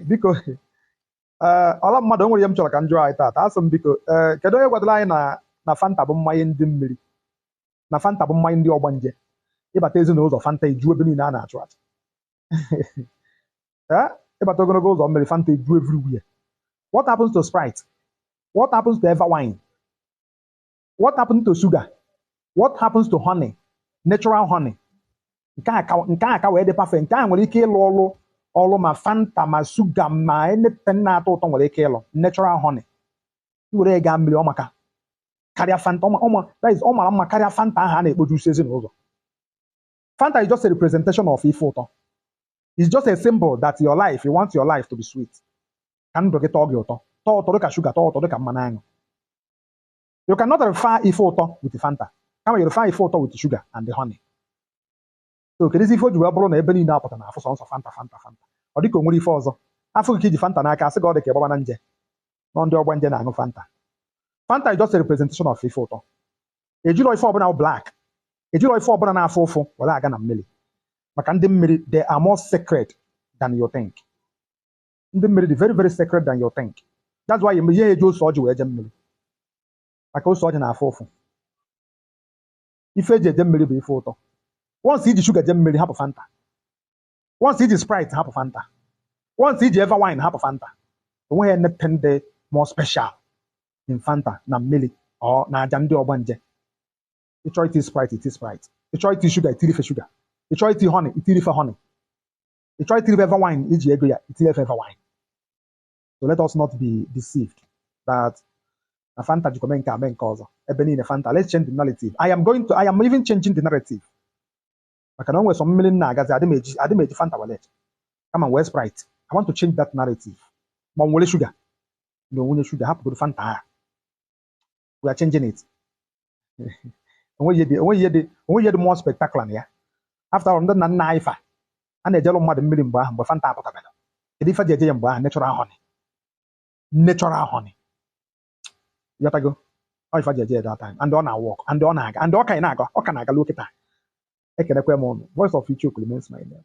biko ee ọla mmadụ o nwere ihe m chọrọ ka m jụọ anyị taata asị m biko ee kedu onye gwadoro anyị na na fanta bụ mmanya ndị mmiri na fanta bụ mmanya ndị ọgbanje ị bata ezi n'ụzọ fanta eju ebe niile a na-achụ aja ee ị bata ogologo ụzọ mmiri fanta eju everywhere what happens to sprite what happens to eva wine what happens to sugar what happens to honey natural honey nke a ka nke a ka wee dị perfect nke a nwere ike ịlụ ọlụ ọlụ ma fanta ma sugar ma anything na-atọ ụtọ nwere ike ịlụ natural honey i were ya gaa mmiri ọ maka karịa fanta ọ ma- ọ ma- that is ọ mara mma karịa fanta ahụ a na-ekpojusi ezi n'ụzọ fanta is just a representation of ife ụtọ it's just a symbol that your life you want your life to be sweet ka ndụ gị tọọ gị ụtọ tọọ ụtọ dịka shuga tọọ ụtọ dịka mmanụ aṅụ you cannot refer ife ụtọ with fanta kama you refer ife ụtọ with sugar and honey so kedụzi ife o ji wee bụrụ na ebe niile a pụta a na-afụ sọọsọ fanta fanta fanta ọ dịka o nwerọ ife ọzọ a fụ gị ka i ji fanta n'aka a sị gị ọ dị ka ị gbabana nje na ọ ndị ọgbanje na-aṅụ fanta fanta is just a representation of ife ụtọ e jirọ ife ọbụla bụ black e jirọ ife ọbụla na-afụ ụfụ were aga na mmiri maka ndị mmiri they are more sacred than you think ndị mmiri dị very very sacred than you think that's why ị ya-eji ose ọjị wee je mmiri maka ose ọjị na-afụ ụfụ ife e ji eje mmiri bụ ife ụtọ once i ji shuga je mmiri hapụ fanta once i ji sprite hapụ fanta once i ji eva wine hapụ fanta enweghị anything dị more special in fanta na mmiri or na aja ndị ọgbanje ị chọọ iti sprite i ti sprite ị chọọ iti shuga i tiri fa shuga ị chọọ iti honey i tiri fa honey ị chọọ itiri fa eva wine i ji ego ya i tiri fa eva wine so let us not be deceived that na fanta jikwa mee nke a mee nke ọzọ ebe niile fanta let's change the narrative i am going to i am even changing the narrative maka na o nwere some mmiri m na-agazi adị m eji adị m eji fanta wee je kama m wee sprite i want to change that narrative ma ọ m were shuga na only shuga hapụgodu fanta a we are changing it o nweghị ihe dị o nweghị ihe dị o nweghị ihe dị more spectacular na ya after all ndị nna nna anyị fa na-ejelụ mmadụ mmiri mgbe ahụ mgbe fanta apụtabarọ kedu ife e ji eje ya mgbe ahụ natural honey natural honey ị ghọtago ọ ife e ji eje ya that time and ọ na-awork and ọ na-aga and ọ ka na-aga ọ ka na-aga luo kịta ekenekwa m ụnụ voice of icheoku remains my name